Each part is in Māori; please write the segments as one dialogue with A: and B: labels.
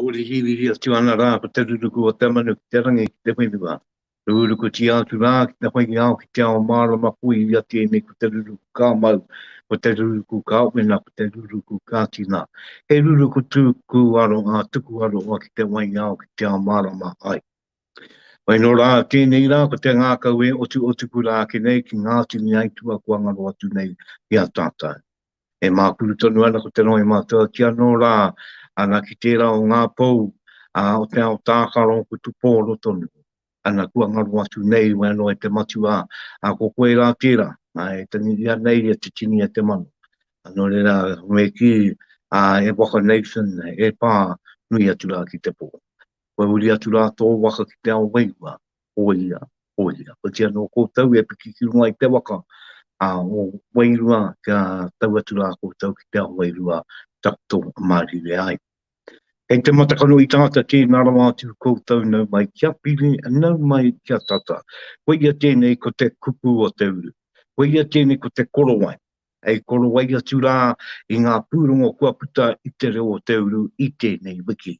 A: Ōrihiurihi atu ana rā ko te ruruku o te manu ki te rangi ki te whenua. Rūrukutia atu rā ki te whai ao ki te ao mārama ko ia tēnei ko te ruruku ka mau, ko te ruruku ka wena, ko te ruruku ka tina. He ruruku tū kū aro ngā tuku aroha ki te wai ao ki te ao mārama ai. Mai nō rā, tēnei rā, ko te ngākau e otuotuku rā ake nei ki ngā tini aituā kua ngaro atu nei ki a tātou. E mākuru tonu ana ko te rohe mātua ki anō rā, ana ki tērā o ngā pou, ā, o te ao tākaro ko Tupōro tonu, ana kua ngaro atu nei wai anō e te matua, ā, ko koe rā tērā, ā, e tangi ia nei e te tini a te mano. Nō reira, me kī, ā, e waka Nathan, e pā, nui atu rā ki te pō. Kua huri atu rā tō waka ki te ao wairua, hōia, hōia. Ko tia nō koutou e piki ki runga i te waka a ō wairua kia tau atu rā koutou ki te ao wairua taku tō whakamārire ai. Kei te matakano i tāta tēnā rawa atu koutou nau mai kia piri, nau mai kia tata. Koia tēnei ko te kupu o te uru. Koia tēnei ko te korowai. Hei korowai atu rā i ngā pūrongo kua puta i te reo o te uru i tēnei wiki.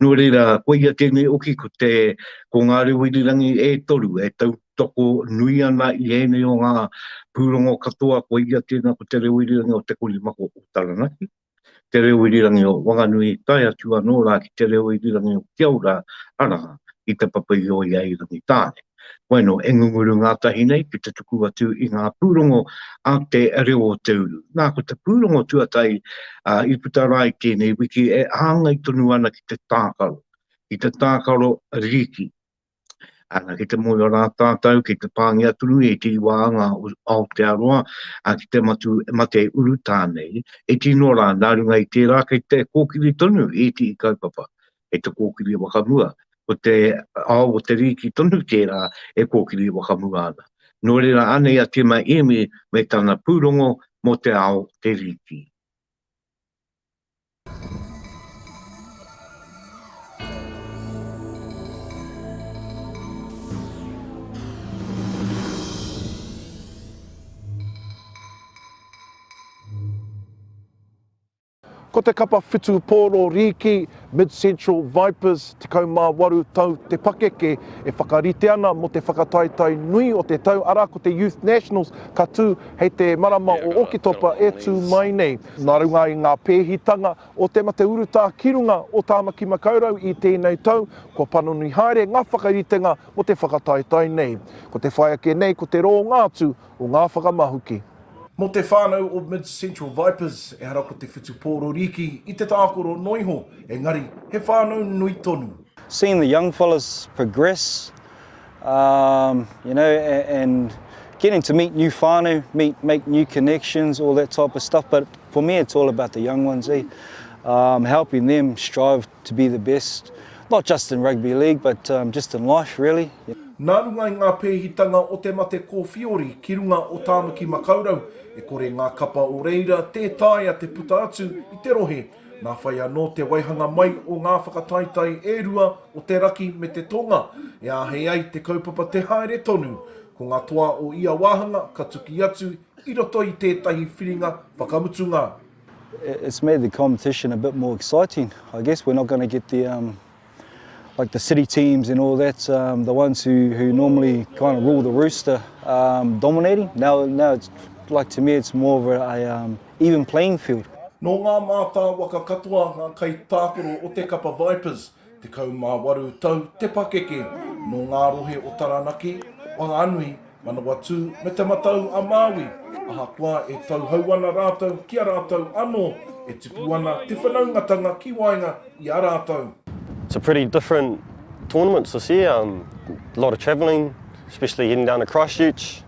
A: Nō reira, koia tēnei oki ko te, ko ngā reo irirangi e toru e tautoko nui ana i ēnei o ngā pūrongo katoa, koia tēnā ko te reo irirangi o Te Korimako o Taranaki. te reo irirangi o Wanganui tae atu anō rā ki te reo irirangi o Kiaura, arā, ki te papa i oi ai Rangitāne. Wainō, e ngunguru ngātahi nei ki te tuku atu i ngā pūrongo a te reo o te uru. Nā, ko te pūrongo tuatahi i puta rā i tēnei wiki e hāngai tonu ana ki te tākaro, ki te tākaro rīki. Ana, ki te moe rā tātou, ki te pāngia tunu i te iwa anga o Aotearoa, a, ki te matu, mate urutā nei, e tino rā, nā runga i tērā kei te kōkiri tonu i iti i kaupapa, kei te kōkiri wakamua, ko te ao o te rīki tonu tērā e kōkiri wakamua ana. Nō reira anei a Tima Emi me tana pūrongo mō te ao te rīki.
B: Ko te kapa whitu pōro rīki, Mid-Central Vipers, 18 tau te pakeke e whakarite ana mō te whakataetae nui o te tau, arā, ko te Youth Nationals ka tū hei te marama o Oketopa e tū mai nei. Nā runga i ngā pēhitanga o te mate urutā ki runga o Tāmaki Makaurau i tēnei tau, kua panoni haere ngā whakaritenga mō te whakataetae nei. Ko te whai ake nei ko te rōnga atu o ngā whakamahuki. Mō te whānau o Mid Central Vipers, ehara ko te whutu pōrorīki i te tākoro noa iho, engari he whānau nui tonu. Seeing the young
C: fellas progress Um, you know, and getting to meet new whānau, meet, make new connections, all that type of stuff. But for me, it's all about the young ones, eh? Um, helping them strive to be the best, not just in rugby league, but um, just in life, really. Yeah. Nā runga i ngā
B: pēhitanga o te mate kōwhiori ki runga o Tāmaki Makaurau, e kore ngā kapa o reira tē taea te puta atu i te rohe Nā whai anō te waihanga mai o ngā whakataetae e rua o te raki me te tonga e āhei ai te kaupapa te haere tonu. Ko ngā toa o ia wāhanga ka tuki atu i roto i tētahi whiringa whakamutunga. It's
C: made the competition a bit more exciting. I guess we're not going to get the like the city teams and all that, um, the ones who, who normally kind of rule the rooster, um, dominating. Now, now it's like to me, it's more of a, a um, even playing field. Nō ngā
B: mātāwaka katoa ngā kaitākaro o te kapa Vipers, tekau mā waru tau te pakeke, nō ngā rohe o Taranaki, Whanganui, Manawatū me Te Matau-a-Māui, ahakoa e tauhou ana rātou ki a rātou anō, e tipu ana te whanaungatanga ki waenga i a rātou. It's a pretty
D: different tournament this year, um, a lot of travelling, especially heading down to Christchurch,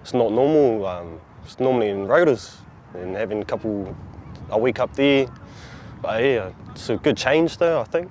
D: it's not normal, um, it's normally in Rotorua, and having a couple, a week up there, but yeah, it's a good change though I think.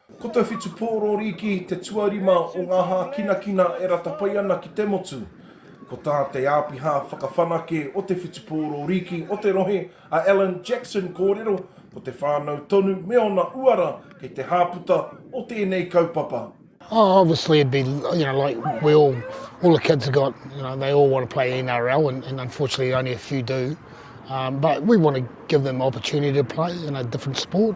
E: Ko te whitu
B: pōrōri ki te tuarima o ngā hākinakina e rata pai ana ki te motu. Ko tā te Āpiha Whakawhanake o te whitu pōrōri o te rohe, a Alan Jackson kōrero, ko te whānau tonu me ōna uara kei te hāputa o tēnei kaupapa. Oh, obviously
F: it'd be, you know, like we all, all the kids have got, you know, they all want to play NRL and, and unfortunately only a few do. Um, but we want to give them opportunity to play in a different sport.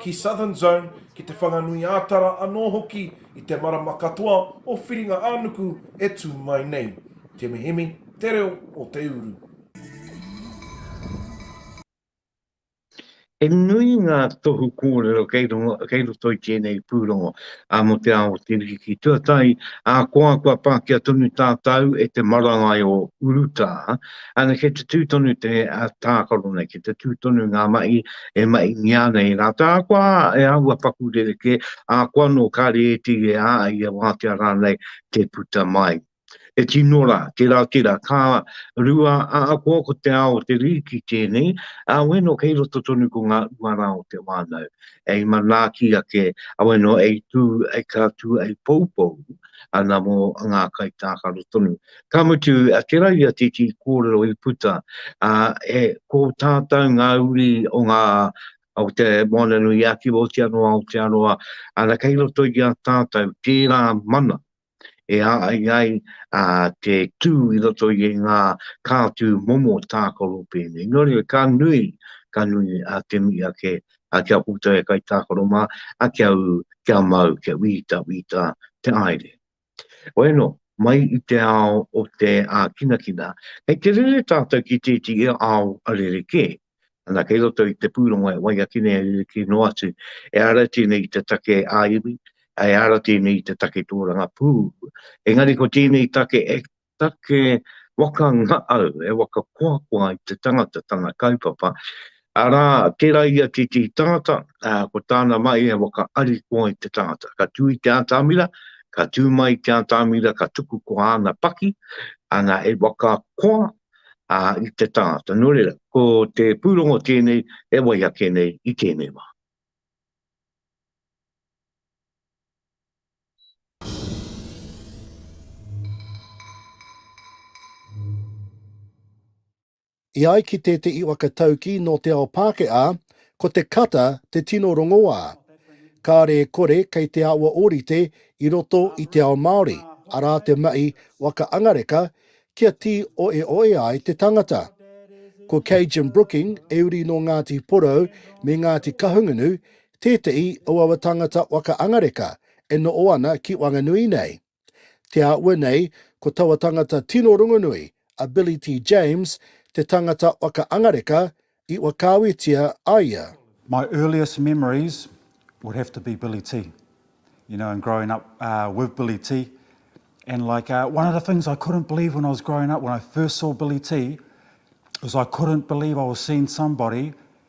B: ki Southern Zone, ki Te Whanganui-ā-Tara anō hoki i te marama katoa o Whiringa-ā-nuku e tū mai nei. Te mihimi, te reo o te uru.
A: He nui ngā tohu kōrero kei roto i tēnei pūrongo a Mō te Ao o te Riki ki Tuatahi, ahakoa kua pākia tonu tātau e te marangai o urutā, Ana kei te tū tonu te tākaro nei, kei te tū tonu ngā mahi e mahingia ana i rātou, ahakoa e āhua paku rerekē, ahakoa anō kāre e iti, e ā, e ia wātea rānei te puta mai. He tino rā, tērā tērā, ka rua ahakoa ko te ao o te rīki tēnei, ā, wēno kei roto tonu ko ngā uara o te whānau, hei manaaki ake, ā, wēno hei tū, hei ka tū, hei poupou ana mō ngā kaitākaro tonu. Ka mutu, te rau i a Titi i kōrero i puta, ā, e, ko tātou ngā uri o ngā, o te Moana-nui-a-Kiwa, oti anō Aotearoa, ana, kei roto i a tātou tērā mana e āai ai te tū i roto i ngā kātū momo tākaro pēnei. Nō reira, ka nui, ka nui te mihi ake kia koutou e kaitākaro mā, kia ū, kia mau, kia wītawīta te aere. Bueno, mai i te ao o te ākinakina, kei te rere tātou ki tētehi ao rerekē. Ana, kei roto i te pūrongo e wai ake nei e rerekē noa atu, ehara tēnei i te take ā-iwi, ehara tēnei i te take tōrangapū, engari ko tēnei take e take waka ngaau, he waka koakoa i te tangata, tana kaupapa, arā, tērā i a Titi Tangata, ā, ko tāna mai he waka arikoa i te tangata. Ka tū i te ātamira, ka tū mai i te ātamira, ka tuku ko āna paki, ana, he waka koa, ā, i te tangata. Nō reira, ko te pūrongo tēnei e wai ake nei i tēnei wā.
F: E ai ki te Te Iwaka Taukī nō Te Ao Pākehā, ko te kata te tino rongoā. Kāre e kore kei te awa ōrite i roto i te ao Māori, arā te mahi waka angareka kia tī oeoe ai te tangata. Ko Cajun Brooking e uri nō Ngāti Porou me Ngāti Kahungunu Tētehi o aua tāngata waka angareka e noho ana ki Wanganui nei. Te āhua nei, ko taua tangata tino rongonui, a Billy T. James, te tāngata waka angareka i whakaawetia a ia. My earliest
G: memories would have to be Billy T. You know, and growing up with Billy T. And like, one of the things I couldn't believe when I was growing up, when I first saw Billy T, was I couldn't believe I was seeing somebody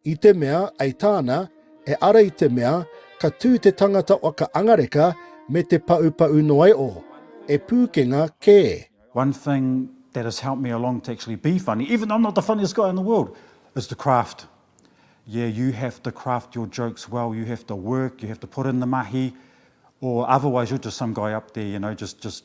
G: I te mea,
F: ei tāna, e ara i te mea, ka tū te tangata whakaangareka me te paupau noa e o, e Pūkenga kē. One thing
G: that has helped me along to actually be funny, even though I'm not the funniest guy in the world, is the craft. Yeah, you have to craft your jokes well, you have to work, you have to put in the mahi, or otherwise you're just some guy up there, you know, just, just,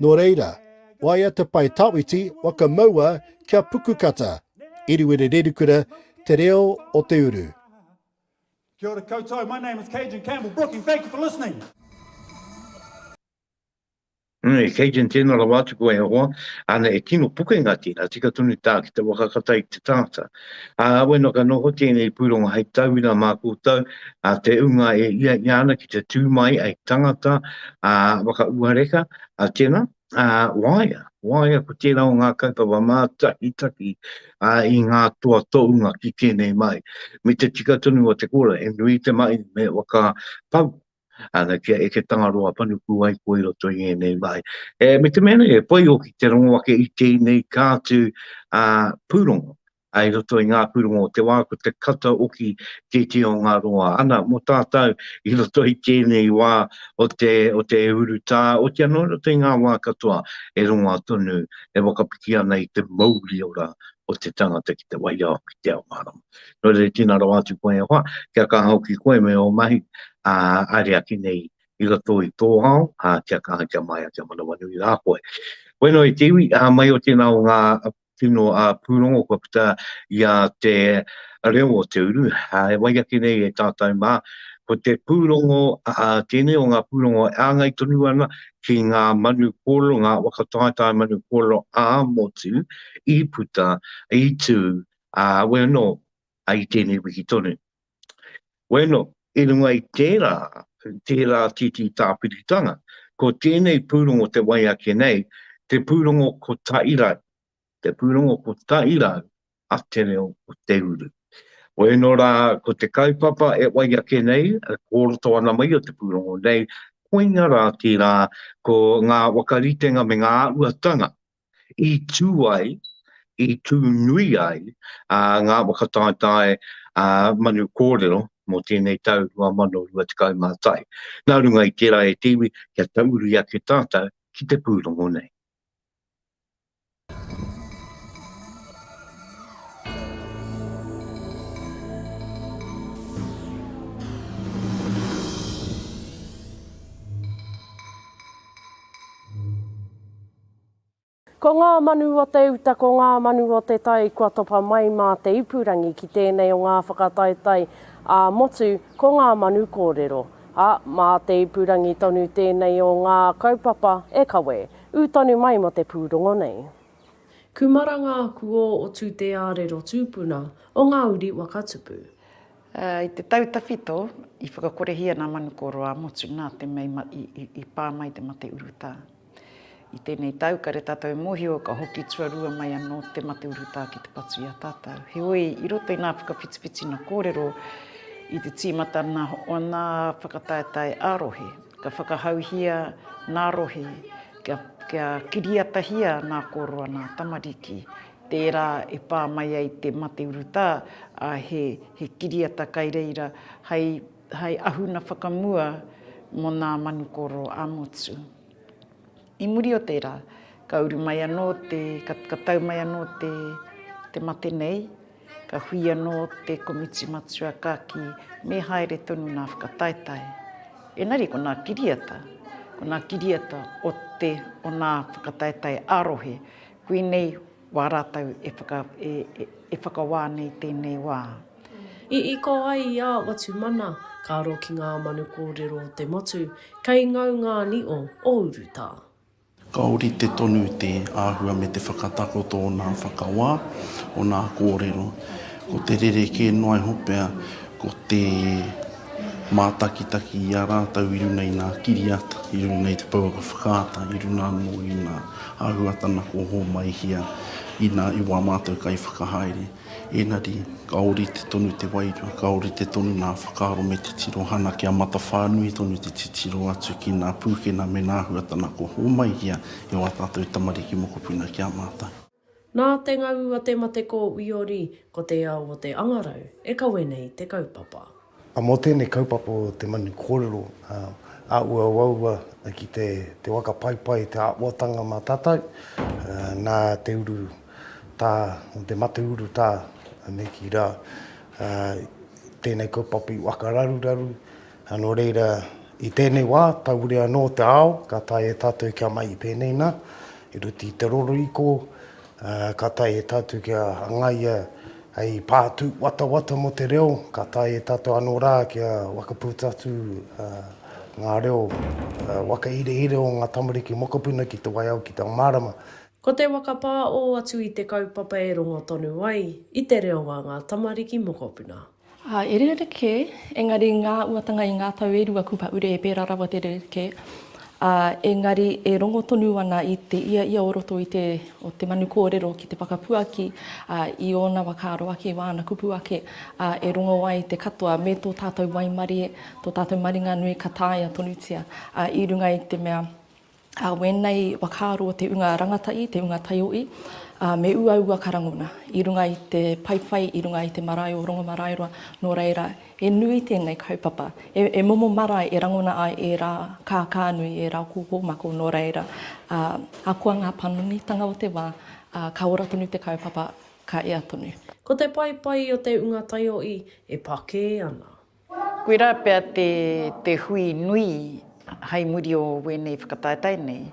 G: Nō reira,
F: waia te pae tawhiti, waka maua kia puku kata, Iriwiri Rerikura, Te Reo o te Uru. Kia
G: ora koutou, my name is Cajun Campbell Brooking, thank you for listening.
A: Nui, Cajun tēnā rawa atu koe e hoa, āna e tino pukenga tērā, tika tonu tā ki te waka kata i te tangata. Ā, we're not ka noho tēnei pūrongo hei tauira mā koutou, ā, te ūnga e hiahia ana ki te tū mai ai tangata, ā, whakauareka, ā, tēnā, ā, waea, waea ko tērā o ngā kaupapa mātakitaki, ā, i ngā toa tōunga ki tēnei mai, me te tika tonu o te kōrero, he nui te mahi me whakapau, ana kia eke Tangaroa panuku ai koe i roto i ngēnei mahi. E, me te mea nei, e pai hoki te rongo ake i tēnei kātu a, pūrongo ai roto i ngā pūrongo o te wā ko te kata oki te te o ngā roa. Ana, mō tātou i roto i tēnei wā o te, o te urutā, o te anō roto i ngā wā katoa e rongoa tonu, e wakapiki ana i te mauri ora o te tangata ki te waiao, ki te ao mārama. Nō reira, tīna rawa atu koe e hoa, kia kaha hoki koe me ō mahi, ā, haere ake nei i roto i tō ao, ā, kia kaha, kia māia, kia manawanui rā koe. Koe noa i te iwi, ā, mai o tēnā o ngā tino pūrongo kua puta i a te reo o te uru, ā, e wai ake nei e tātou mā, ko te pūrongo, ā, tēnei o ngā pūrongo e āngai tonu ana ki ngā manu kōrero, ngā waka taetae manu kōrero ā-motu i puta, i tū, Ā, awe anō, i tēnei wiki tonu. Bueno, i runga i tērā, tērā tītī tāpiritanga, ko tēnei pūrongo te wai ake nei, te pūrongo ko Tairau, te pūrongo ko Tairau a Te Reo o Te Uru. Bueno rā, ko te kaupapa e wai ake nei, e kōroto ana mai o te pūrongo nei, koinga rā tērā, ko ngā wakaritenga me ngā āhuatanga i tū ai, i tū nui ai ngā whakataetae manu kōrero mō tēnei tau 2021. Nā runga i tērā e te iwi, kia tauuri ake tātou ki te pūrongo nei.
H: Ko ngā manu o te uta, ko ngā manu o te tai kua topa mai mā te ipurangi ki tēnei o ngā whakataetae ā-motu, ko ngā manu kōrero. Ā, mā te ipurangi tonu tēnei o ngā kaupapa e kawe. Ū tonu mai mō te pūrongo nei. Kumara ngā kuō o Tūteārero tūpuna o ngā uri waka tupu. I
I: te tau tawhito, i whakakorehia nā manu kōrero ā-motu nā te mei i pā mai te mate urutā. I tēnei tau, kare tātou e mōhio ka hoki tuarua mai anō te mate urutā ki te patu i a tātou. Heoi, i roto i ngā whakawhitiwhitina kōrero, i te tīmata nā o nā whakataetae ā-rohe, ka whakahauhia nā rohe kia, kia kiriatahia nā kōroa, nā tamariki, tērā e pā mai ai te mate urutā, ā, he, he kiriata kai reira hai hai ahuna whakamua mō nā manukōro ā-motu. I muri o tērā, ka uru mai anō te, ka, ka tau mai anō te, te mate nei, ka hui anō te komiti matua ka kī, me haere tonu nā whakataetae. Engari ko nā kiriata, ko nā kiriata o te, o nā whakataetae ā-rohe, koinei Wā rātou e whakawā nei tēnei wā. I iko
H: ai i a Watumana, ka aro ki ngā manu kōrero o te motu, kei ngau ngā nio o urutā. Ka
J: ōrite tonu te āhua me te whakatakoto o nā whakawā, o nā kōrero. Ko te rerekē noa iho pea, ko te mātakitaki i a rātou i runga i nā kiriata, i runga i te pouaka whakaata, i runga anō i nā. āhuatanga kua hōmaihia inā i wā mātou kaiwhakahaere. Ēngari, ka ōrite tonu te wairua, ka ōrite tonu ngā whakaaro me te tirohanga kia matawhānui tonu te titiro atu ki ngā pūkenga me ngā āhuatanga kua hōmaihia e wā tātou tamariki mokopuna ki a mātou. Nā te
H: ngau a te mate ko Uiori, ko te ao o te angarau e kawe nei te kaupapa. A mō tēnei
K: kaupapa o te manu kōrero, a uauaua ki te te waka paipai te āhuatanga mā tātou, nā te uru tā, nō te mate uru tā, me kī rā, tēnei kaupapa i waka raruraru, Ā, nō reira, i tēnei wā, taure anō te ao, ka taea e tātou kia mai i pēnei nā, i roto i te rorohiko, ā, ka taea e tātou kia hangaia hei pātū watawata mō te reo, ka taea e tātou anō rā kia whakaputa atu ngā reo whakahirehirea o ngā tamariki mokopuna ki te waiao, ki te mārama. Ko te whakapā
H: ō atu i te kaupapa e rongo tonu ai i te reo a ngā tamariki mokopuna. Ā, e rerekē,
L: engari i ngā uatanga i ngā tau e rua kua ure e pērā rawa te rerekē, ā, engari e rongo tonu ana i te ia ia o roto i te, o te manu kōrero ki te whakapuaki, ā, i ōna whakaaro ake, i āna kupu ake, ā, e rongo ai te katoa me tō tātou waimarie, tō tātou maringa nui ka taea tonutia, ā, i runga i te mea, Ā, wēnei whakaaro te unga rangatahi, te unga taiohi, ā, me uaua ka rangona i runga i te paepae, i runga i te marae o Rongomaraeroa, nō reira, he nui tēnei kaupapa, he, he momo marae e rangona ai ērā kākānui, ērā kōkōmako, nō reira, ā, ahakoa ngā panonitanga o te wā, ā, ka ora tonu te kaupapa, ka ea tonu. Ko te paepae
H: o te unga taiohi e pakē ana. Koirā
I: pea te hui nui hai muri o wēnei whakataetae nei,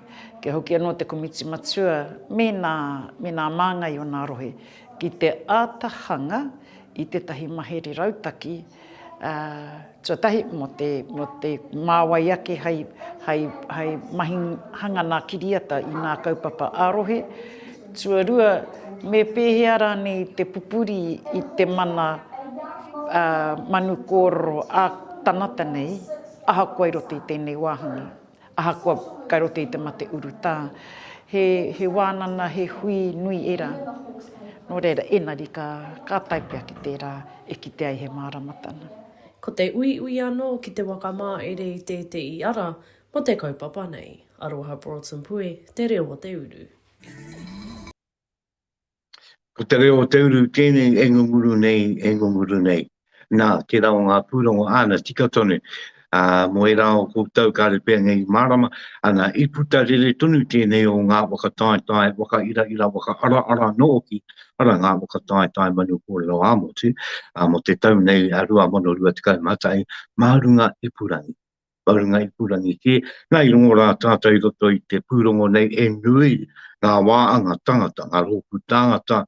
I: kia hoki anō te Komiti Matua me nā, me nā māngai o nā rohe ki te āta hanga i tētahi mahere rautaki, ā, tuatahi mō te, mō te mā wai ake hai, hai, hai mahi hanga nā kiriata i nā kaupapa ā-rohe, Tuarua, me pēhea rānei te pupuri i te mana manu kōrero a tangata nei, ahakoa i roto i tēnei wāhanga, ahakoa kai roto i te mate urutā. He, he wānanga, he hui nui ērā. Nō reira, engari ka, ka tae pea ki tērā e kite ai he māramatanga. Ko te
H: uiui anō ki te wakamāere i tētehi ara mō te kaupapa nei. Aroha Broughton Pue, Te Reo o te Uru.
A: Ko te reo o te uru tēnei e ngunguru nei, e ngunguru nei. Nā, tērā o ngā pūrongo āna tika tonu, ā, mō ērā o koutou ka repeangia i mārama, ana, i puta rere tonu tēnei o ngā whakataetae whakairaira, whakaaraara anō hoki, arā ngā whakataetae manu kōrero ā-motu, ā, mō te tau nei 2021, mā runga ipurangi. o runga ipurangi kē. Nā, i rongo rā tātou i roto i te pūrongo nei, e nui ngā wāanga tangata, ngā rōpū tāngata,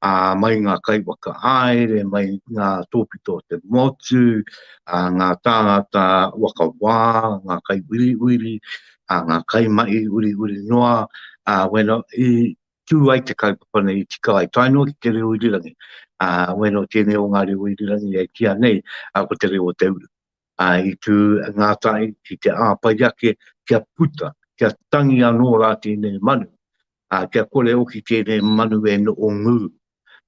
A: ā, mai ngā kaiwaka haere, mai ngā tōpito o te motu, ā, ngā tāngata waka wā, ngā kaiuiuiri, ā, ngā kaimahi uiuiri noa, ā, wēnā, i tū ai te kaupapa nei, i tika ai, tae noa ki te reo irirangi, ā, wēnā tēnei o ngā reo irirangi e kīa nei, ā, ko te reo o te uru. a, i tū ngā tahi ki te āpai ake kia puta, kia tangi anō rā tēnei manu, a, kia kore hoki tēnei manu e noho ngū,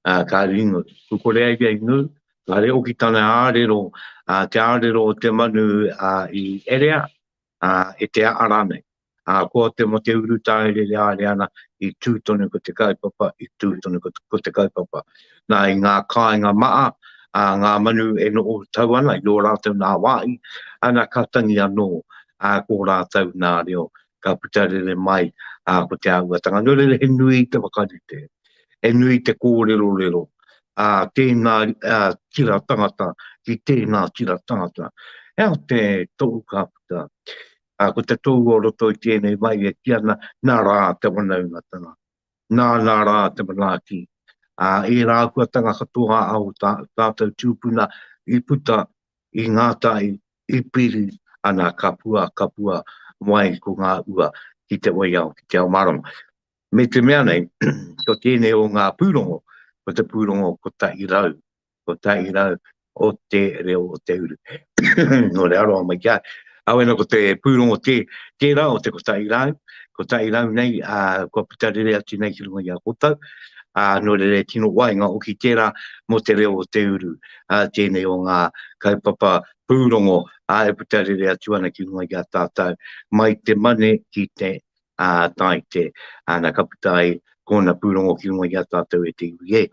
A: a, kāre i ngū. Ku kore ai ia i ngū, kāre hoki tana ārero, a, te ārero o te manu a, i erea, a, e te aha rānei. Ā, ko te mō te urutā e rere haere ana, i tū tonu ko te kaupapa, i tū tonu ko te kaupapa. Nā, i ngā kāinga maha, ā, ngā manu e noho tau ana i ō rātou nā wāhi, ana ka tangi anō, ā, ko ō rātou nā reo ka puta rere mai, ā, ko te āhuatanga. Nō reira, he nui te whakarite, he nui te kōrerorero, ā, tēnā tira tangata ki tēnā tira tangata. He aha te tohu ka puta? ā, ko te tōu o roto i tēnei wai e kī ana, Nā rā te wanaungatanga, nā, nā rā te manaaki, ā, ērā āhuatanga katoa a ō tātou tūpuna i puta, i ngātahi, i piri, ana ka pua, ka pua mai ko ngā ua ki te waiao, ki te ao mārama. Me te mea nei, ko tēnei o ngā pūrongo, ko te pūrongo kotahi rau. kotahi rau o te reo o te uru. no re aroa mai kia. Awe no ko te pūrongo te, te rau o te kotahi rau, kotahi rau nei, a, kua puta rere atu nei ki runga i a kotau, a, no re re tino wai ngā oki tērā mo te reo o te uru, a, tēnei o ngā kaupapa pūrongo, a, e puta rere atu ana ki runga i a tātou, mai te mane ki te a, tai te, ana ka puta ai, kōna pūrongo ki runga i a tātou e te iwi e.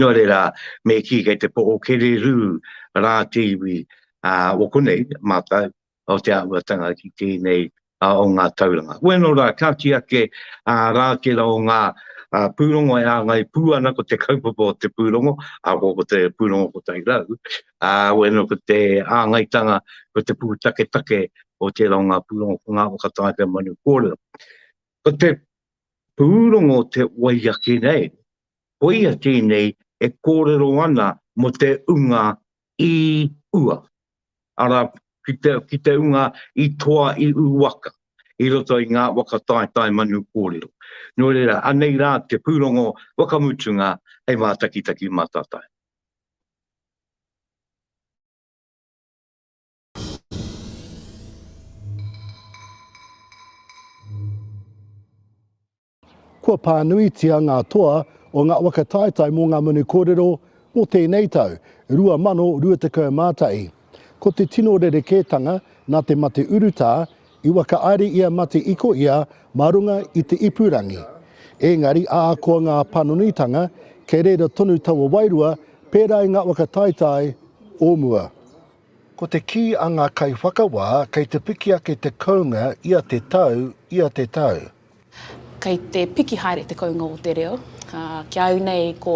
A: Nō reira, me kī kei te poho kererū rā te iwi o konei mātou, o te āhuatanga ki tēnei o ngā tauranga. Wēnō rā, ka kī ake rā tērā o ngā pūrongo e āngai pū ana ko te kaupapa o te pūrongo, ahakoa ko te pūrongo kotahi rau, wēnō ko te āngaitanga, ko te pūtaketake o tērā o ngā pūrongo, ko ngā whakataetae manu kōrero. Ko te pūrongo o te wai ake nei, koia tēnei e kōrero ana mō te unga i ua, arā, ki te, ki te unga i toa i ū waka, i roto i ngā waka taetae manu kōrero. Nō reira, anei rā te pūrongo whakamutunga hei mātakitaki mātātae.
F: Kua pānuitia ngā toa o ngā waka taetae mō ngā manu kōrero mō tēnei tau, 2021. Ko te tino rerekētanga nā te mate urutā i whakaari ia mate iko ia mā runga i te ipurangi. Ēngari ākoa ngā panonitanga kei reira tonu taua wairua pērā i ngā waka taetae o mua. Ko te kī a ngā kaiwhakawā, kei te piki ake te kounga ia te tau, ia te tau.
M: Kei te piki haere te kounga o te reo. Ki a au nei ko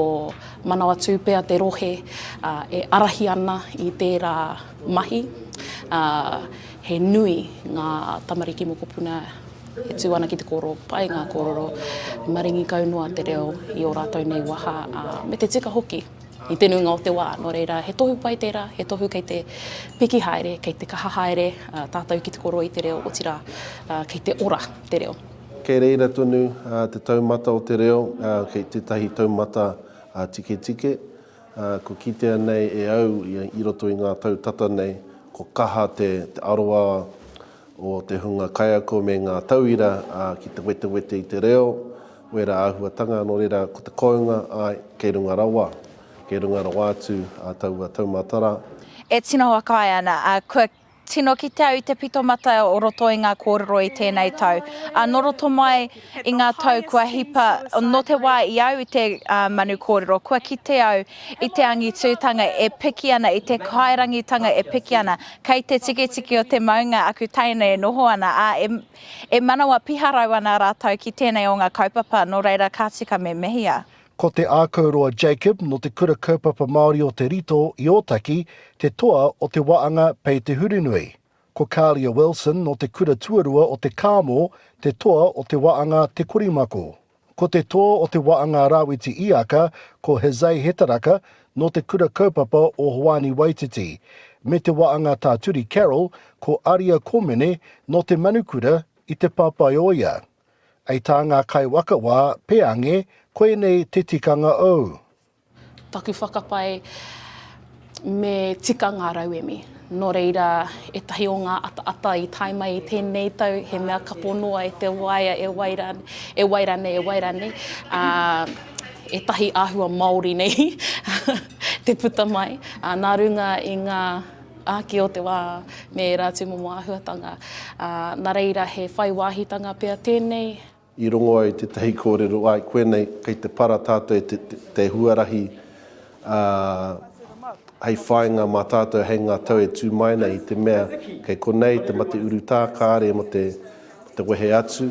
M: Manawatū pea te rohe e arahi ana i tērā mahi. He nui ngā tamariki mokopuna e tū ana ki te kōrero pai ngā kōrero, maringi kau noa te reo i ō rātou nei waha me te tika hoki. i te nuinga o te wā. Nō reira, he tohu pai tērā, he tohu kei te piki haere, kei te kaha haere tātou ki te koroi te reo, otirā, kei te ora te reo. Kei reira tonu
N: te taumata o te reo, kei tētahi taumata tiketike. Kua kitea nei e au i roto i ngā tau tata nei, kua kaha te aroā o te hunga kaiako me ngā tauira ki te wetewete i te reo, Wērā āhuatanga, nō reira, ko te kounga, āe, kei runga rawa, kei runga rawa atu ā taua taumātara. E tino
O: whakaae ana, ā, kua tino kite au i te pito mata o roto i ngā kōrero i tēnei tau, ā, nō roto mai i ngā tau kua hipa, nō te wā i au i te manu kōrero, kua kite au i te angitūtanga e piki ana, i te kairangitanga e piki ana, kei te tikitiki o te maunga aku teina e noho ana, ā, e. E manawa piharau ana rātou ki tēnei o ngā kaupapa, nō reira ka tika me mehia. Ko Te Ākauroa
F: Jacob nō Te Kura Kaupapa Māori o Te Rito i Ōtaki te toa o te waanga Pei Te Hurunui. Ko Kalia Wilson nō Te Kura Tuarua o Te Kāmo te toa o te waanga Te Korimako. Ko te tō o Te Waanga Rawiti Iaka ko Jose Hetaraka nō te Kura Kaupapa o Hoani Waititi, me Te Waanga Tāturi Carroll ko Aria Komene nō Te Manukura i Te Papaioea. Ei tā ngā kaiwakawā, Peange, koinei te tikanga ou. Taku
M: whakapae, me tika ngā rauemi. Nō reira, ētahi o ngā ataata i tae mai i tēnei tau, he mea kapo noa e te waea, e wai rā, e wai rā nei, e wai rā nei, ā, ētahi āhua Māori nei te puta mai, ā, nā runga i ngā āki o te wā me ērā tūmomo āhuatanga. Ā, nā reira, he whai wāhitanga pea tēnei. I rongo ai
N: tētahi kōrero, āe, koe nei, kei te para tātou e te huarahi hei whāinga mā tātou hei ngā tau e tū mai nei i te mea kei konei te mate urutā kāre mō te wehe atu,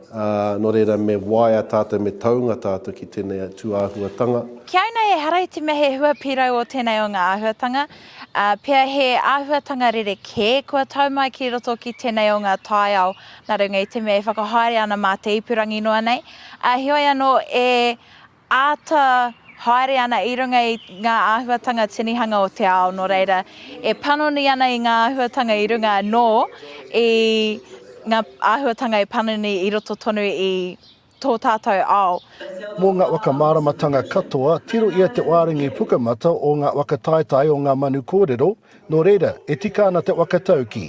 N: ā, nō reira me waea tātou, me taunga tātou ki tēnei tū āhuatanga. Ki au nei ehara
O: i te mea he hua pīrau ō tēnei o ngā āhuatanga, ā, pea he āhuatanga rerekē kua tau mai ki roto ki tēnei o ngā taiao Nā runga i te mea e whakahaere ana mā te ipurangi noa nei, ā, heoi anō e āta haere ana i runga i ngā āhuatanga tinihanga o te ao, nō reira, e panoni ana i ngā āhuatanga i runga anō i ngā āhuatanga e panoni i roto tonu i tō tātou ao. Mō ngā
F: whakamāramatanga katoa, tiro ia te wārangi pukamata o ngā whakataetae o ngā manu kōrero, nō reira, e tika ana te whakataukī,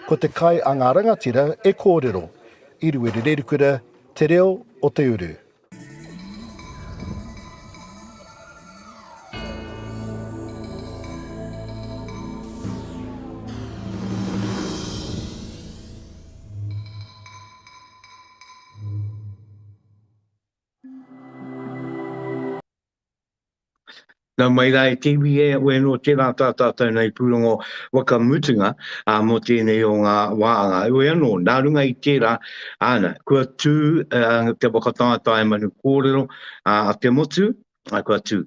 F: ko te kai a ngā rangatira e kōrero. I Ruerererukura, Te Reo o te Uru.
A: Nau mai rā e te iwi e, wē nō tērā tā tātou nei pūrongo waka mutunga ā, mō tēnei o ngā wā ā, wē anō, nā runga i tērā, āna, kua tū ā, te whakataetae manu kōrero ā, a te motu, ā, kua tū.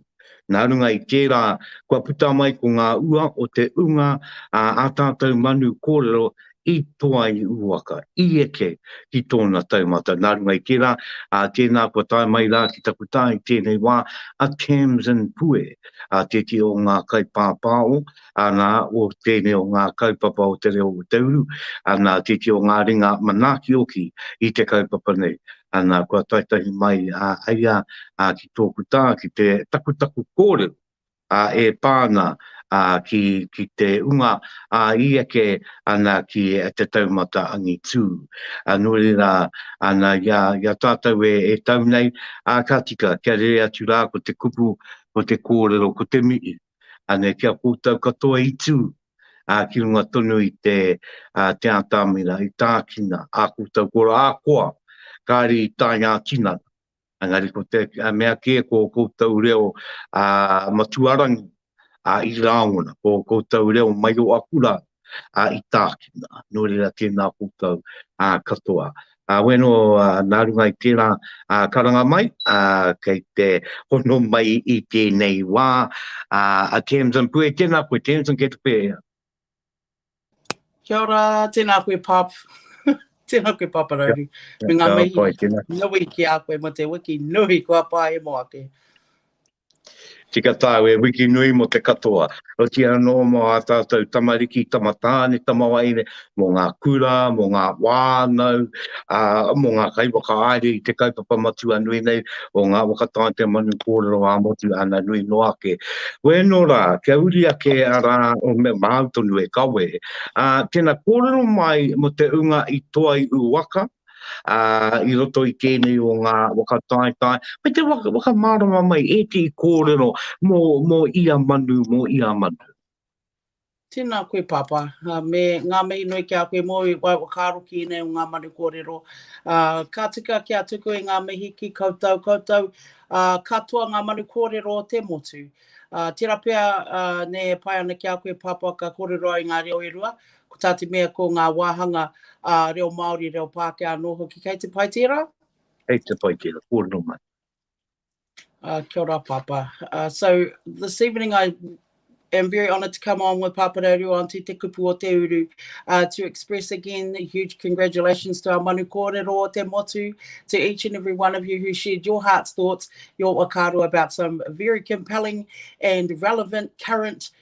A: Nā runga i tērā, kua puta mai ko ngā ua o te ūnga a ā tātou manu kōrero i toa i uwaka, i eke ki tōna taumata. Nā runga i tērā, ā, tēnā kua tae mai rā ki taku tā i tēnei wā, a Tamsin Pue, ā, tēti o ngā kaipāpāo, ana o tēnei o ngā kaupapa o te reo o te uru, ana titi o ngā ringa manakioki i te kaupapa nei. Ana kua taitahi mai a ia ki tōku tā ki te takutaku kōrero e pā ana ki te unga i eke ana ki te taumata angitū. Nō reira, ana i a tātou e tau nei, ka tika kia rere atu rā ko te kupu, ko te kōrero, ko te mihi. Anei ki a koutou katoa i tū ki runga tonu i te te ātamina i tākina ā koutou koro ā-koa, kāre i tae ngā tinana. Engari ko te mea kē ko ō koutou reo matuarangi i rāngona, ko ō koutou reo maioakura ā, i tākina, nō reira tēnā koutou ā, katoa. Ā, wēno ā, nā runga i tērā ā, karanga mai, ā, kei te hono mai i tēnei wā, ā, a Tamsin Pue, tēnā koe Tamsin, kei te pēhea?
P: Kia ora, tēnā koe Pāp. tēnā koe Pāpa Rauru. Me ngā mihi nui ki a koe mo te wiki nui kua pāhemo ake.
A: Tika tāu e wiki nui mō te katoa, otīa anō mō ā tātou tamariki, tamatāne, tamawaene, mō ngā kura, mō ngā whānau, ā, mō ngā kaiwhakaāhre i te kaupapa matua nui nei o ngā waka tātea manu kōrero ā-motu āna nui noa ake. Wēnō rā, kia uri ake a rā o me māu tonu e kawe. Ā, tēnā kōrero mai mō te ūnga i toa i ū waka. i roto i tēnei o ngā waka taetae, me te whakamārama mai e te i kōrero mō ia manu, mō ia manu.
P: Tēnā koe Pāpā, me ngā mihi nui ki a koe mō i whai whakaaro ki ēnei o ngā manu kōrero. Ka tika kia tuku e ngā mihi ki koutou, koutou katoa ngā manu kōrero o te motu. Tērā pea nei e pai ana ki a koe Pāpā ka kōrero au i ngā reo e rua, Ko tā te mea ko ngā wāhanga ā reo Māori, reo Pākehā anō hoki kei te pai tērā? Kei te pai
A: tērā, kōrero mai.
P: Uh, kia ora, Papa.
A: Uh,
P: so, this evening I am very honoured to come on with Papa Reo Rua on Te Te Kupu o Te Uru uh, to express again huge congratulations to our manu kōrero o te motu, to each and every one of you who shared your heart's thoughts, your wakaru about some very compelling and relevant current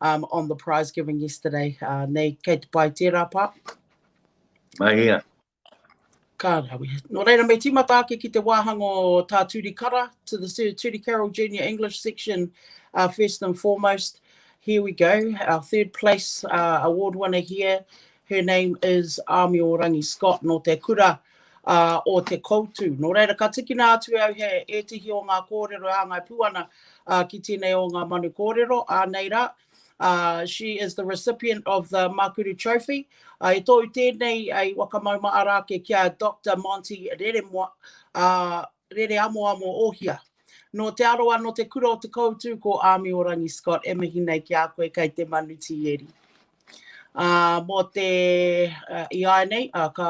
P: on the prize giving yesterday. Uh, nei, kei te pai tērā pā.
A: Mahia. Ka
P: rawi. Nō reira, me tīmata ake ki te wāhanga o tā Turi Kara to the Turi Carroll Junior English section uh, first and foremost. Here we go, our third place uh, award winner here. Her name is Amio Rangi Scott, nō te kura ā, o Te Koutu. Nō reira, ka tikina atu e au he ētehi o ngā kōrero e hāngai pū ana ki tēnei o ngā manu kōrero, ā, nei rā, ā, she is the recipient of the Makuru Trophy, ā, e tōu tēnei i Wakamauma arā ake ki a Doctor Monty Reremoa, ā, Rere Amoamo Ohia. Nō Te Arawa, nō te kura o Te Koutu, ko Amiorangi Scott e mihi nei ki a koe kei te manu tīeri. Ā, mō te, i āinei, ka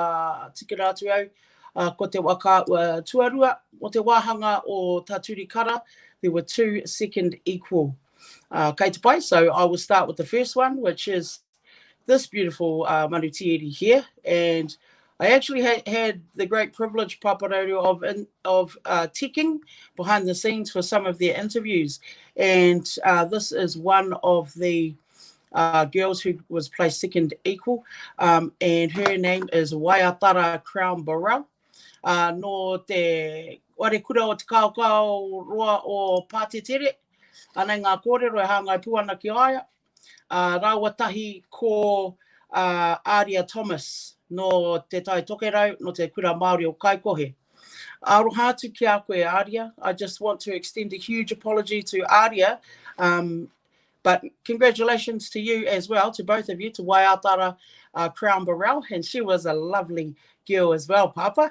P: tikina atu au, ko te wa ka ua tuarua, mō te wāhanga o tā Turi Kara, there were two second equal. Kei te pai, so I will start with the first one, which is this beautiful uh, manu tieri here, and I actually ha had the great privilege, Paparaurio, of, in, of uh, ticking behind the scenes for some of their interviews. And uh, this is one of the uh, girls who was placed second equal, um, and her name is Waiatara Crown Burrell. Uh, no te warekura o te kaokao roa o Pātetere, anei ngā kōrero e hāngai pū ana ki aia, ā, rāua tahi ko a Aria Thomas nō Te Tai Tokerau, nō te Kura Māori o Kaikohe. Aroha atu ki a koe Aria, I just want to extend a huge apology to Aria, um, but congratulations to you as well, to both of you, to Waiatara uh, Crown Burrell, and she was a lovely girl as well, Pāpā.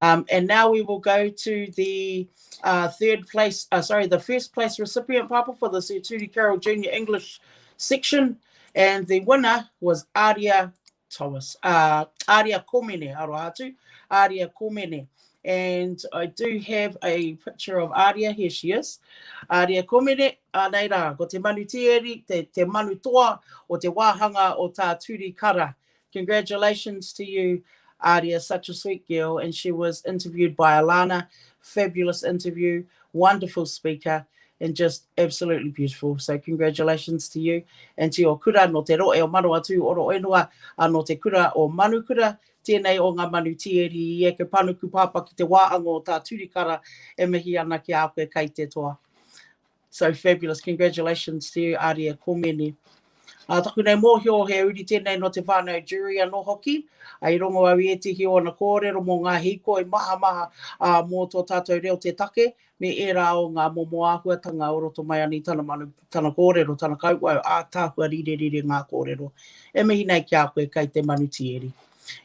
P: Um, and now we will go to the uh, third place, uh, sorry, the first place recipient, Papa, for the Sir Turi Carroll Junior English section. And the winner was Aria Thomas, uh, Aria Komene, Arohatu, Aria Komene. And I do have a picture of Aria, here she is. Aria Komene, anei rā, ko te manu tieri, te, te manu toa o te wāhanga o tā Turi Kara. Congratulations to you Aria such a sweet girl and she was interviewed by Alana fabulous interview wonderful speaker and just absolutely beautiful so congratulations to you and to your kura no te roe o Manawatū oro whenua a no te kura o Manukura tēnei o ngā manu tieri i eke panuku pāpā ki te wāanga o tā Turikara e mihi ana ki a koe kai te toa. So fabulous, congratulations to you Aria Komene. Ā taku nei mōhio he uri tēnei nō te whānau Durie anō hoki, ā i rongo au i ētehi o ōna kōrero mō ngā hīkoi mahamaha, ā, mō tō tātou reo te take me ērā o ngā momo āhuatanga o roto mai ana i tana manu, tana kōrero, tana kauwhau ātaahua rirerire ngā kōrero. E mihi nei ki a koe kei te manu tieri.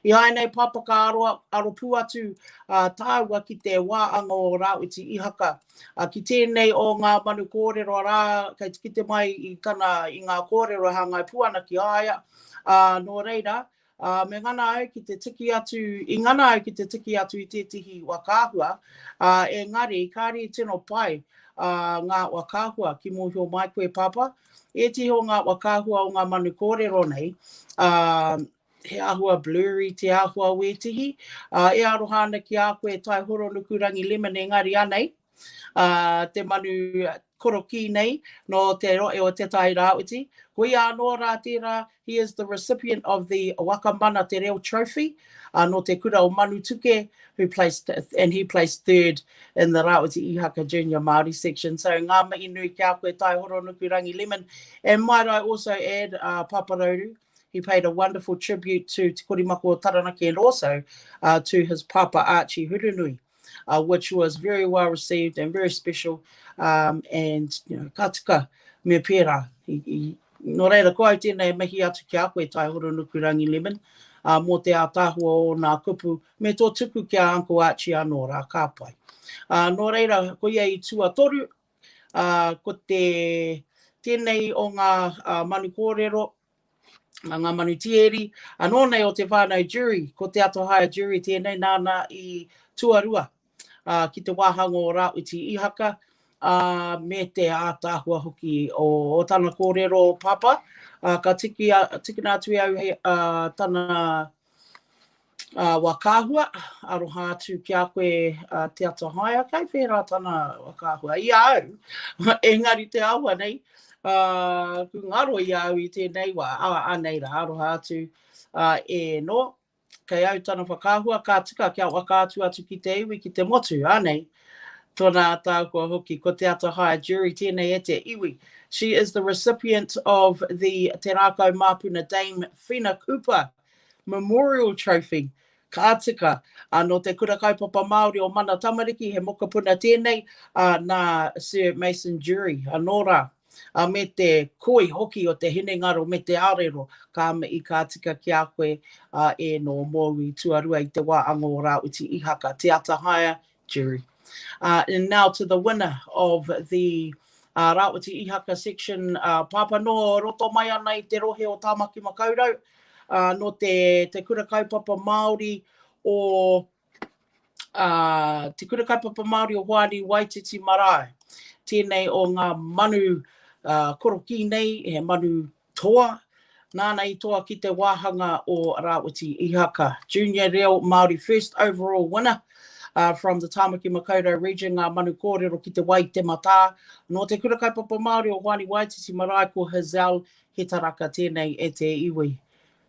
P: I āinei papa ka aro, aro pū atu ā, tāua ki te wā anga o Rāwhiti Ihaka, Ā, ki tēnei o ngā manu kōrero arā, kei te kite mai i tana, i ngā kōrero e hāngai pū ana ki a ia, ā, nō reira, ā, me ngana au ki te tiki atu, i ngana au ki te tiki atu i tētehi wa kāhua, ā, engari, kāre i tino pai, ā, ngā wa kāhua ki mōhio mai koe, Pāpā, ētehi o ngā wa kāhua o ngā manu kōrero nei, ā, he āhua blurry te āhua wētihi, ā, e aroha ana ki a koe e Tai Horonukurangi Lemon engari anei, ā, te manu korokī nei nō te rohe o Te Tai Rāwhiti, koia anō rā tērā, he is the recipient of the Waka Mana Te Reo Trophy, ā, nō te kura o Manutuke, who placed, and he placed third in the Rāwhiti Ihaka Junior Māori section. So, ngā mihi nui ki a koe Tai Horonukurangi Lemon, and might I also add, ā, Papa Rauru, He paid a wonderful tribute to Te Korimako o Taranaki and also uh, to his papa Archie Hurunui, uh, which was very well received and very special. Um, and you know, ka tika me pērā. He, he, no reira, ko au tēnei mihi atu ki a koe, Tai Horonukurangi Lemon, uh, mō te ātāhua o nā kupu, me tō tuku ki a Uncle Archie anō rā, ka pai. Uh, nō reira, ko ia i tuatoru, Ā, ko te, tēnei o ngā manu kōrero, ngā manu tieri, anō nei o te whānau Jury, ko Te Atohaea Jury tēnei nāna i tuarua ki te wāhanga o Rāwhiti Ihaka, ā, me te ātaahua hoki o tana kōrero papa. Ka tiki, tikina atu e au hei, tana. Wā Kāhua, aroha atu ki a koe a Te Atahaea, kai whērā tana wā Kāhua i a au, engari te āhua nei, ku ngaro i a au i tēnei wā, ā, anei rā, aroha atu e nō, kei au tana whakaahua, ka tika kia waka atu atu ki te iwi, ki te motu, anei. Tona ataakua hoki, ko Te Atahaya Jury, tēnei e te iwi. She is the recipient of the Te Rākau Māpuna Dame Whina Cooper Memorial Trophy, ka tika, ā, nō Te Kura Kaupapa Māori o Mana Tamariki, he mokopuna tēnei, ā, nā Sir Mason Jury, anō rā. a me te koi hoki o te hinengaro me te arero, ka me i ka tika ki a koe a Ēno mōu i tuarua i te wā ango o Rāwhiti Ihaka, Te Atahaea, Jury. And now to the winner of the Rāwhiti Ihaka section, pāpā nō roto mai ana i te rohe o Tāmaki Makaurau, nō te Kura Kaupapa Māori o a Te Kura Kaupapa Māori o Hoani Waititi Marae. Tēnei o ngā manu korokī nei, he manu toa, nāna i toa ki te wāhanga o Rāwhiti Ihaka. Junior Reo Māori first overall winner from the Tāmaki Makaurau region, ngā manu kōrero ki te wai te matā. Nō Te Kura Kaupapa Māori o Hoani Waititi Marae ko Hazelle Hetaraka, tēnei e te iwi.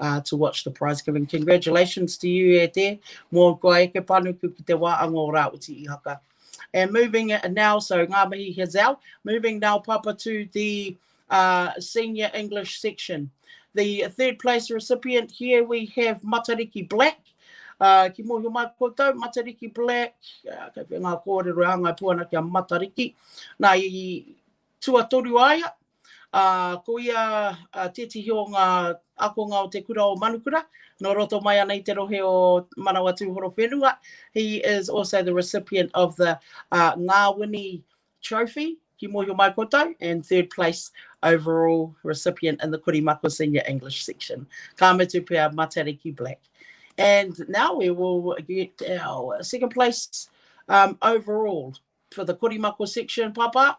P: uh, to watch the prize giving. Congratulations to you, e te, mō kua eke panuku ki te wāanga o Rāwiti Ihaka. And moving now, so ngā mihi Hazel, moving now, Papa, to the uh, senior English section. The third place recipient here, we have Matariki Black. Uh, ki mōhio mai koutou, Matariki Black, uh, kei ngā kōrero a ngai puana kia Matariki. Nā, i tuatoru aia, Ā, ko ia tētehi o ngā ākonga o te kura o Manukura, nō roto mai ana i te rohe o Manawatū-Horowhenua. He is also the recipient of the Ngāwini Trophy, ki mōhio mai koutou, and third place overall recipient in the Kurimako Senior English section. Ka mutu pea, Matariki Black. And now we will get our second place overall for the Kurimako section, Papa.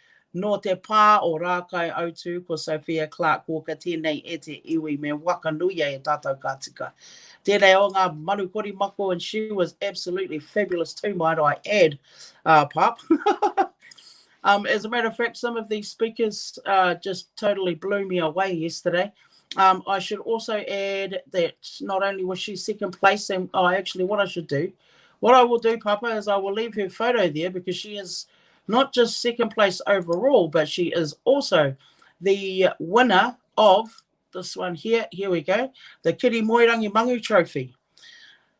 P: Nō te pā o Rākaiautū ko Sophia Clarke Walker tēnei e te iwi me whakanuia e tātou ka tika. Tēnei o ngā manu kori mako and she was absolutely fabulous too might I add uh, pop. um, as a matter of fact some of these speakers uh, just totally blew me away yesterday. Um, I should also add that not only was she second place, and oh, actually, what I should do, what I will do, Papa, is I will leave her photo there because she is not just second place overall, but she is also the winner of this one here. Here we go, the Kiri Moerangi Mangu Trophy.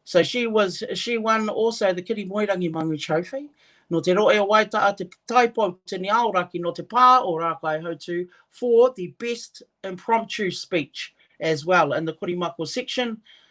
P: So she was she won also the Kiri Moerangi Mangu Trophy. No te roe o waita a te taipou tini aoraki no te pā o Rākai Hautu for the best impromptu speech as well in the Korimako section.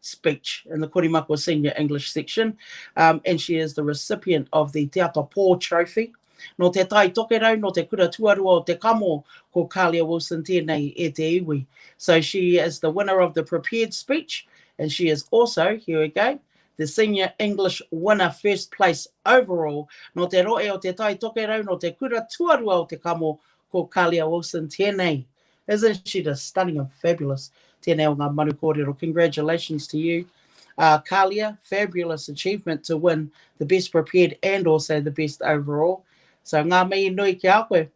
P: speech in the Korimako Senior English section um, and she is the recipient of the Te Ata Pō Trophy. No te Tai Tokerau, no te kura tuarua o te kamo, ko Kalia Wilson tēnei e te iwi. So she is the winner of the prepared speech and she is also, here we go, the senior English winner first place overall. No te roe o te Tai Tokerau, no te kura tuarua o te kamo, ko Kalia Wilson tēnei Isn't she just stunning and fabulous? Tēnei o ngā manu kōrero. Congratulations to you. Uh, Kalia, fabulous achievement to win the best prepared and also the best overall. So ngā mihi nui ki a koe,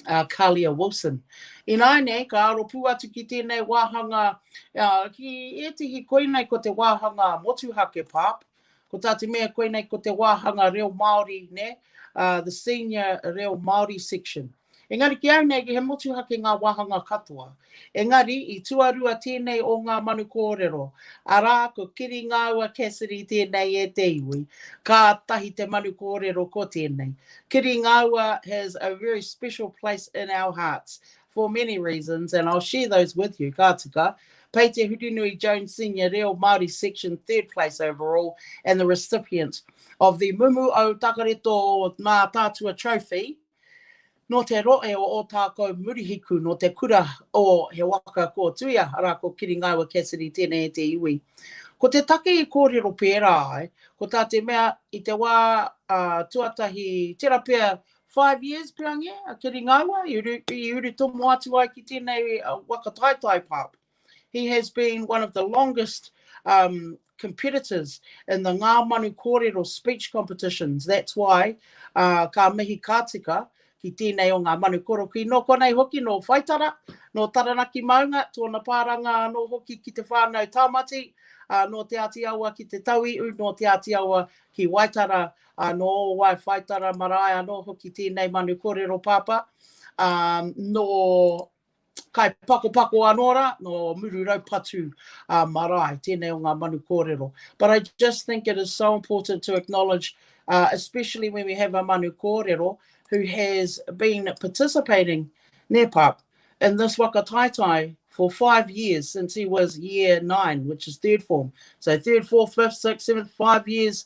P: uh, Kalia Wilson. Ināi nei, ka aro pū atu ki tēnei wāhanga, uh, ki ētihi koinei ko te wāhanga motuhake pāpa, Ko tā te mea koinei ko te wāhanga reo Māori, nē, the senior reo Māori section. Engari ki au nei, he motuhake ngā wāhanga katoa. Engari, i tuarua tēnei o ngā manu kōrero, arā, ko Kiringāua Cassidy tēnei e te iwi, kātahi te manu kōrero ko tēnei. Kiringāua has a very special place in our hearts. for many reasons and I'll share those with you, ka tika. Pei Te Hurinui Jones Senior Reo Māori Section third place overall and the recipient of the Mumu o Takareto Mā Tātua Trophy no te roe o Otākou Murihiku, no te kura o He Waka Ko Tuia, arā ko Kiringaiwa Cassidy, tēnei e te iwi. Ko te take i kōrero pērā ai, ko tā te mea i te wā uh, tuatahi, tērā pea Five years pea nge a Kiri Ngaua i uru, i uru tomo atu ai ki tēnei uh, waka taitai pāp. He has been one of the longest um, competitors in the ngā manu kōrero speech competitions. That's why uh, ka mihi ka tika ki tēnei o ngā manu koroki. Nō konei hoki, nō Whaitara, nō Taranaki Maunga, tōna pāranga anō hoki ki te whānau Tāmati, uh, nō Te Āti Awa ki te Tauiu, nō Te Āti Awa ki Waitara, Anō wai whaitara marae anō hoki tēnei manu kōrero pāpā, ā, nō Kaipakopako anō rā, nō Mururaupatu ā marae, tēnei o ngā manu kōrero. But I just think it is so important to acknowledge, uh, especially when we have a manu kōrero who has been participating, nē pāp, in this whakataetae for five years since he was year nine, which is third form. So third, fourth, fifth, sixth, seventh, five years,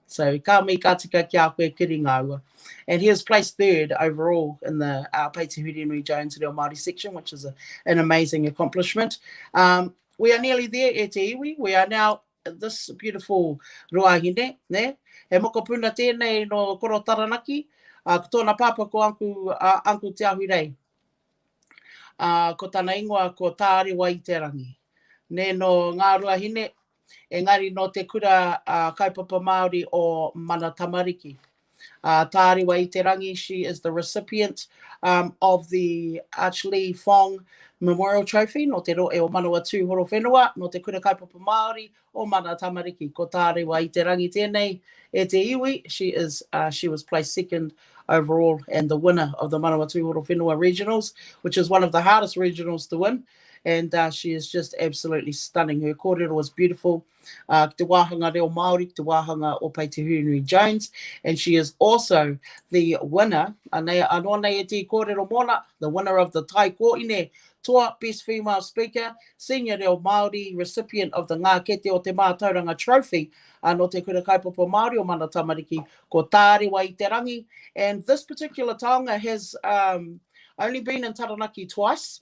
P: So ka mihi ka tika ki a koe kiri ngaua. And he has placed third overall in the uh, Peiti Whirinui Jones Reo Māori section, which is a, an amazing accomplishment. Um, we are nearly there e te iwi. We are now this beautiful ruahine, ne? He mokopuna tēnei no Koro Taranaki. Uh, ko tōna pāpā ko Uncle, uh, Uncle Te Ahui Rei. Uh, ko tana ingoa ko Tārewa i te rangi. Ne no ngā ruahine, engari nō te kura kaupapa Māori o Mana Tamariki. Tārewa i te rangi, she is the recipient of the Arch Lee Fong Memorial Trophy nō te rohe o Manawatū Horowhenua, nō te kura kaupapa Māori o Mana Tamariki. Ko Tārewa i te rangi tēnei e te iwi, she is, she was placed second overall and the winner of the Manawatū Horowhenua Regionals, which is one of the hardest regionals to win, and uh, she is just absolutely stunning. Her kōrero was beautiful. Uh, ki te wāhanga reo Māori, ki te wāhanga o Pai Te Hurinui Jones, and she is also the winner, anei, anō nei e tī kōrero mōna, the winner of the Tai Kōine Toa Best Female Speaker, Senior Reo Māori, recipient of the Ngā Kete o Te Mātauranga Trophy, uh, no Te Kura Kaupapa Māori o Mana Tamariki, ko Tārewa i te rangi, and this particular taonga has um, only been in Taranaki twice,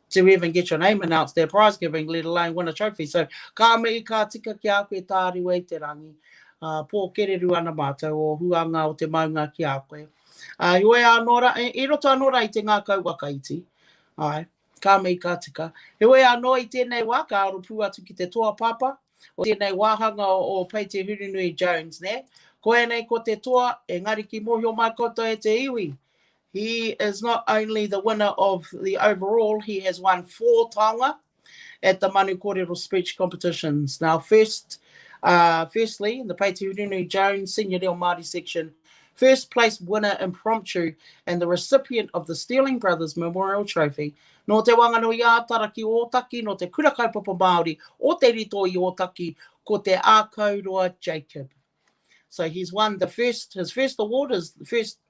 P: to even get your name announced at prize giving, let alone win a trophy. So ka mihi ka tika ki a koe tāriu e te rangi. Uh, pō kereru ana mātou o huanga o te maunga ki a koe. Uh, i oe anō ra, e, i roto anō ra i te ngākau wakaiti. Ai, ka mihi ka tika. He oe anō i tēnei wā, ka aro pū atu ki te toa papa, o tēnei wāhanga o, o Pei Te Hurunui Jones, ne? Koe nei ko te toa, engari ki mohio mai koutou e te iwi, He is not only the winner of the overall, he has won four taonga at the Manu Korero speech competitions. Now first, uh, firstly, in the Peiti Urunui Jones Senior Reo Māori section, first place winner impromptu and the recipient of the Stealing Brothers Memorial Trophy Nō Te Wanganui Ātara ki Ōtaki, nō Te Kura Kaupapa Māori o Te Rito i Ōtaki, ko Te Ākauroa Jacob. So he's won the first, his first award is the first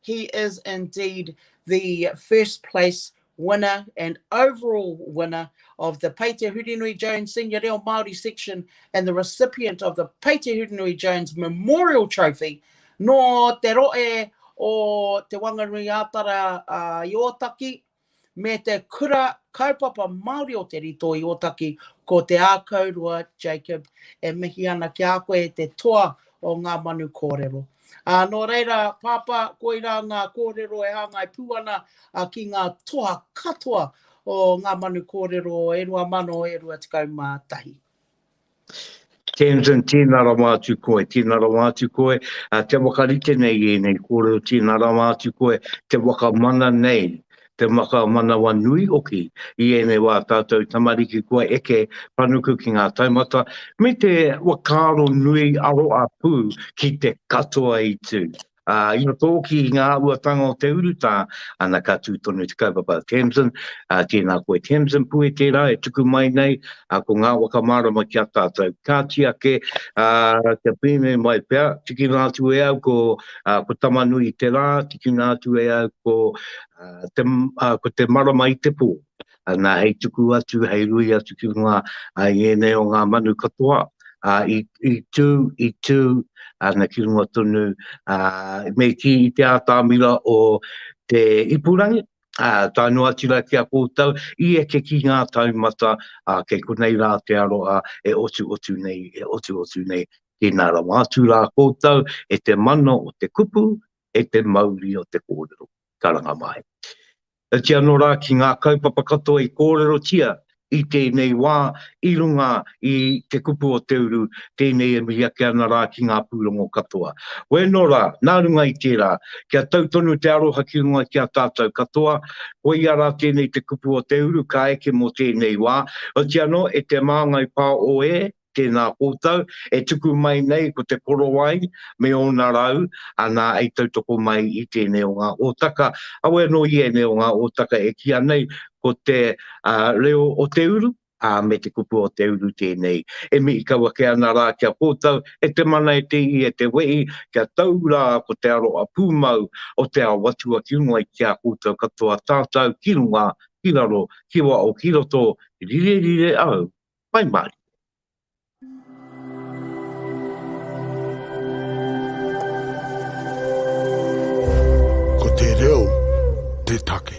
P: He is indeed the first place winner and overall winner of the Pei Te Hurinui Jones Senior Reo Māori Section and the recipient of the Pei Te Hurinui Jones Memorial Trophy nō te rohe o Te Wanganui-ā-Tara i Ōtaki. me te Kura Kaupapa Māori o Te Rito i Ōtaki, ko Te Ākaurua Jacob e mihi ana ki a koe e te toa o ngā manu kōrero. Ā, nō reira, Pāpā, koirā ngā kōrero e hāngai pū ana ki ngā toa katoa o ngā manu kōrero e rua mano e rua tekau mā tahi. Tamsin,
A: Tēnā rawa atu koe, tēnā rawa atu koe, ā, kia whakarite nei i ēnei kōrero, tēnā rawa atu koe te whakamana nei, te whakamanawanui hoki i ēnei wā tātou tamariki kua eke panuku ki ngā taumata, me te whakaaro nui aroapū ki te katoa i tū. Ā, ina tōki i ngā āhuatanga o te urutā, ana ka tū tonu te kaupapa a Tamsin, ā, tēnā koe Tamsin, puhe tērā e tuku mai nei, ā, ko ngā waka mārama ki a tātou. Kāti ake, ā, kia pēnei mai pea, tikina atu e au ko, ā, ko Tamanui te rā, tikina atu e au ko, ā, te, ā, ko te marama i te pō. nā hei tuku atu, hei rui atu ki runga i ēnei o ngā manu katoa, a, i, i tū, i tū, ana ki runga tonu, a, me ki i te ātāmira o te ipurangi, a, tā noa atu rā ki a koutou, i eke ki ngā taumata, a, kei konei rā te aroa e otu otu nei, e otu otu nei, tēnā rawa atu rā koutou, e te mana o te kupu, e te mauri o te kōrero. Karanga mai. Iti anō rā ki ngā kaupapa katoa i kōrerotia i tēnei wā i runga i Te Kupu o Te Uru, tēnei e mihi ake ana rā ki ngā pūrongo katoa. Wēnō rā, nā runga i tērā, kia tau tonu te aroha ki runga ki a tātou katoa, koia rā tēnei Te Kupu o Te Uru ka eke mō tēnei wā, oti anō e te māngai pā o e. tēnā koutou, e tuku mai nei ko Te Korowai me ōna rau, anā i tautoko mai i tēnei o ngā hōtaka, awe anō i ēnei o ngā hōtaka e kīa nei ko te reo o te uru, ā, me te kupu o te uru tēnei e mihi kau ake ana rā ki a koutou, e te mana, e te ihi, e te wehi, kia tau rā ko te aroha pūmau o te ao atua ki mua ki a koutou katoa tātau ki runga, ki raro, ki waho, ki roto, rire rire au Pai mai! Ko te reo te take.